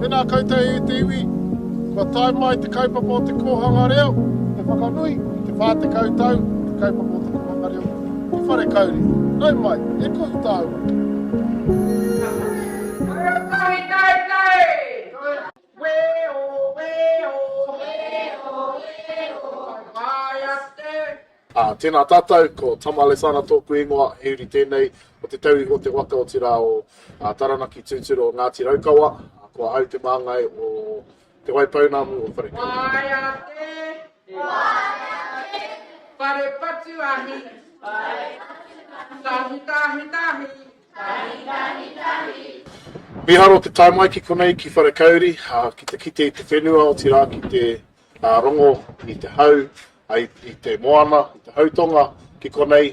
Tēnā koutou e te iwi, kua tae mai te kaupapa o te kōhanga reo ki te whakanui i te 40 tau o te kaupapa o te kōhanga reo ki Wharekauri. Nau mai, e kohu tāua! Weo, weo, weo, weo, whakapae ake. Ah, tēnā tātou, ko Tama Lesana tōku ingoa, he uri tēnei o te tauihu o te waka, otirā o ah, Taranaki tūturu o Ngāti Raukawa, ah, ko ahau te māngai o Te Waipounamu o Wharekura. Whakapae ake, whakapae ake, whare patu ahi, whare patu ahi, tahi, tahi, tahi, Tahi, tahi, tahi. Miharo te tae mai ki konei ki Wharekauri ki te kite i te whenua otirā ki te rongo i te hau, i te moana, i te hautonga ki konei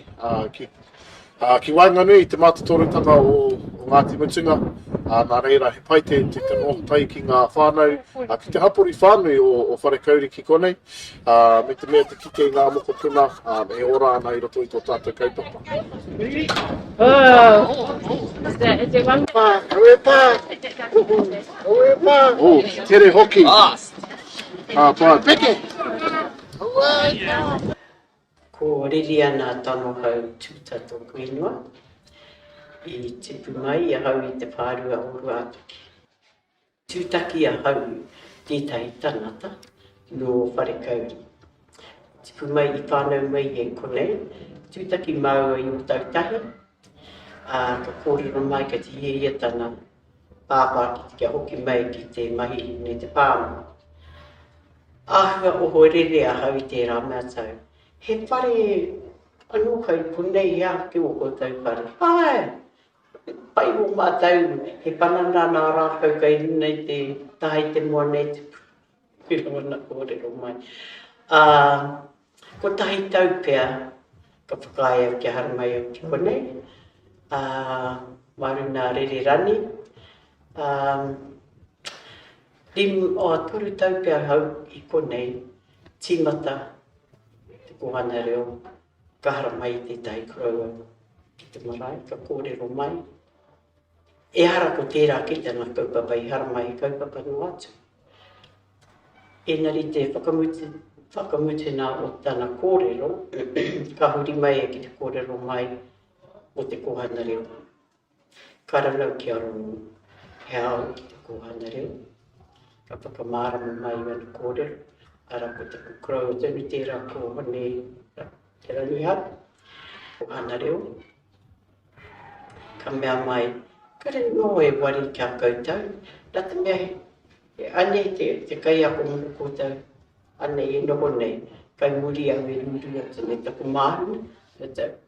ki waenganui i te mātotorutanga o Ngāti Mutunga, nā reira he pai te noho tahi ki ngā whānau ki te hapori whānui o Wharekauri ki konei. Ā, me te mea te kite i ngā mokopuna, ā, e ora ana i roto i tō tātou kaupapa. Pā, aue pā! Aue pā! Ū, ki tere hoki! Ā, pā, peke! Ko Ririana Tangohau Tuta tōku ingoa. I tipu mai ahau i te whārua o Ruātoki. Tūtaki ahau tētahi tangata nō Wharekauri. Ka tipu mai i whānau mai e konei, tūtaki māua i Otautahi, ā, ka kōrero mai ka tihiahia tana pāpā kia hoki mai ki te mahi me te pāmu. Āhua ohorere ahau i tērā mea tau, he whare anō kai konei he āke o koutou whare? Āe! Pai mō mātou he panana nā rākau kai runa i te taha i te moana e tupu. He rongona kōrero mai. Ā, kotahi tau pea ka whakaaea kia haramai au ki konei, ā, mā runā rere rani. Ā, rim, ā, toru tau pea hau i konei, tīmata te kōhanga reo, Ka haramai tētahi koroua ki te marae, ka kōrero mai, Ehara ko tērā kite ngā kaupapa i haramai he kaupapa noa atu. Ēnari te whakamutu, whakamutuna o tana kōrero, ka huri mai e ki te kōrero mai o te kōhana reo. Ka rangau ki a rōu he ao ki te kōhanga reo, ka whakamārama mai i ōna kōrero, arā ko taku crow o te iwi tērā ko Hone Te Rangiharu, kōhanga reo. Ka mea mai, kare nō e wari ki a koutou, nā te mea he anei te, te kaiako mō koutou, anei e noho nei, kai muri au e rūrū atu nei taku māhuna, me te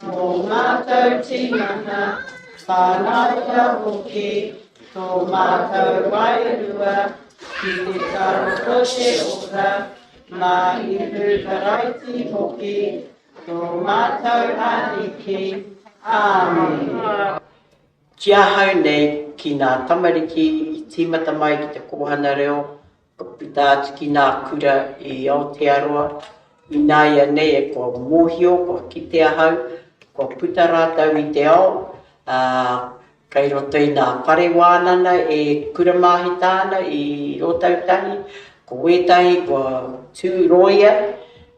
Tō mātou tinana, whānaunga hoki, tō mātou wairua, ki te taro o te ora, mā Ihu Karaiti hoki, tō mātou Ariki. Āmen. Ki ahau nei, ki ngā tamariki i tīmata mai ki te kōhanga reo, Ka puta atu ki ngā kura i Aotearoa, ināianei e kua mōhio, kua kite ahau, kua puta rātou i te ao, ā, kei roto i ngā whare wānanga e kura māhita ana i Ōtautahi, ko wētahi kua tū rōia,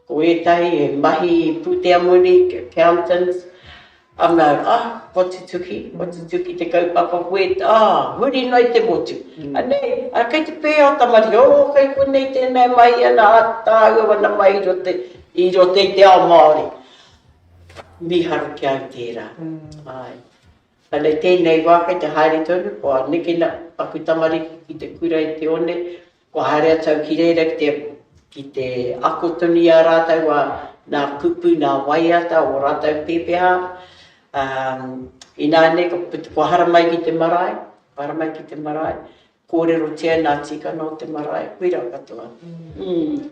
ko wētahi he mahi pūtea moni, accountants, Ana, ah, kua tutuki, kua tutuki te kaupapa koe, ah, huri noa i te motu. Anei, ah, kei te pēhea o Tamaria, oh, kei konei tēnā e mahi ana, ah, tāua wana mai i roto i te ao Māori. Mīharo ki a au tērā, āe. Ana i tēnei wā kei te haere tonu, kua nekena aku tamariki ki te kura i te one, Kua haere atu au ki reira ki te, ki te ako tonu i a rātou a nā kupu, nā waiata o rātou pēpeha, ā, inānei ka puta, kua hara mai ki te marae, kua hara mai ki te marae, kōrerotia e nā tīkana o te marae, koirā katoa. Mm.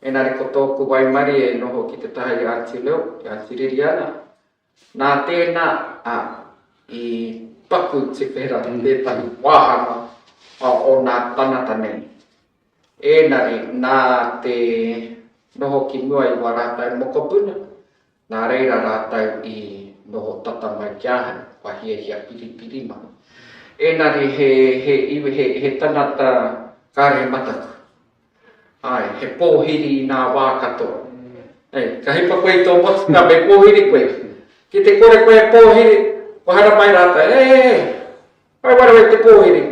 Engari ko tōku waimarie i noho ki te taha i a Anti Leo, i a Anti Ririana. Nā tēnā, ā, i paku te whera i tētahi wāhanga o ōna tangata nei. Engari, nā te noho ki mua i wā rātou mokopuna, nā reira rātou i noho tata mai ki ahau, kua hiahia piripiri mai. Engari he, he iwi, he, he tangata kāre mataku. Āe, he pōhiri i nā wā katoa. Hei, ka hipa koe i tō motu, nā, me pōhiri koe. Ki te kore koe e pōhiri, kua hara mai rātou, He, he, he, whai waro e te pōhiri.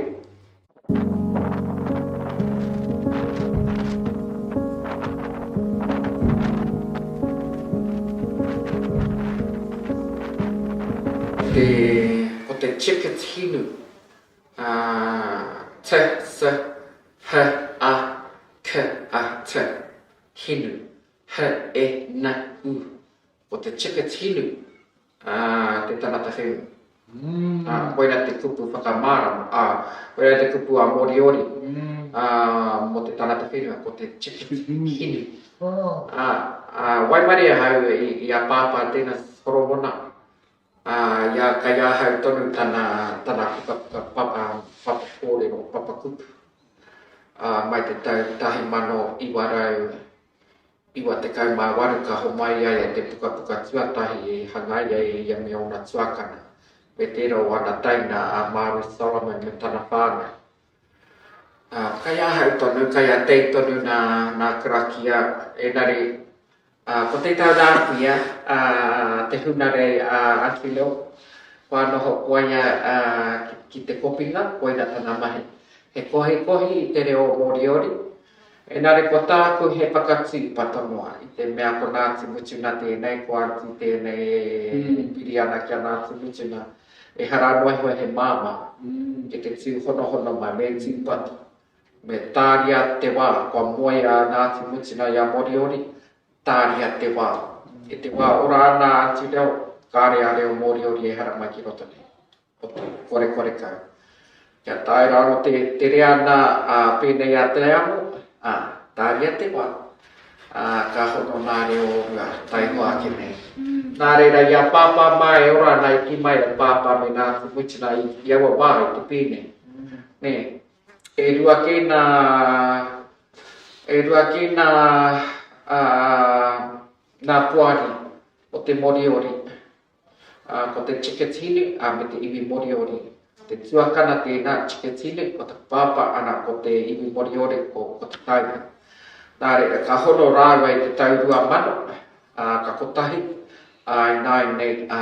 Ko te ticket hinu, T, th, h, a, k, a, t, hinu, h, e, n, u. Ko te chickets hinu a te tangata whenua. Ā, koirā te kupu whakamārama, ā, koirā te kupu a Moriori ā, mō te tangata whenua, ko te chickets hinu. Ā, ā, waimarie ahau i, i a Pāpā tēnā horomona, Ā, i a, kei ahau tonu tana, tana pukapuka papa, papa kōrero, papa kupu. Ā, mai te tau 1998 ka homai ai a te pukapuka tuatahi i hangai ai e ia me ōna tuakana, me tērā o ana taina a Māui Solomon me tana whānau. Ā, kai ahau tonu, kai a Dave tonu nā, nā Karakia, engari, ā, ko te tau rāpu ia, ā, te hunarei a Akilo, kua noho ko ia, ā, ki, ki te kopinga, koina tana mahi. He kohikohi i te reo Moriori, engari ko tāku he whakatīpa tonoa i te mea ko Ngāti Mutunga tēnei, ko Aunty tēnei e piri ana ki a Ngāti Mutunga. Ehara anō iho he māmā ki te tū honohono mai me tūpato, me tāria te wā, kua moea a Ngāti Mutunga i a Moriori, tāria te wā. I te wā ora āna atu reo, kāre a reo Moriori ehara mai ki roto nei. Otirā, korekore kau. Kia tae rāua te tere ana a pēnei a Te Amo, ā, tāria te wā, ā, ka hono nā reo o mua, taihoa ake nei. Nā reira, i a Pāpā mā e ora ana, e kī mai a Pāpā me nā Kumutina i, i aua wā, i te pēne. Nē, e rua kē nā, e rua kē nā, ā, nā poari o te Moriori, Ā, ko te Chikatile, ā, me te iwi Moriori. Ko te tuakana tēnā, Chikatile, ko te pāpā, ana, ko te iwi Moriori, ko, ko te taina. Nā reira, ka hono rāua i te tau rua mano, ā, ka kotahi, ā, ināianei, ā,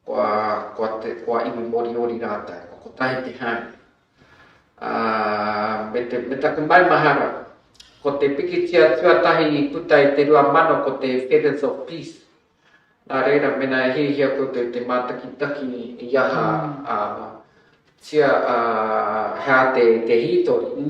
kua, kua te, kua iwi Moriori rātou. Kua kotahi te haere. Ā, me te, me taku maumahara, ko te pikitia tuatahi i puta i te rua mano ko te Feathers of Peace. Nā reira, mēnā e hiahia koutou i te mātakitaki i aha, ā, tia, ā, he ātea i te hītori,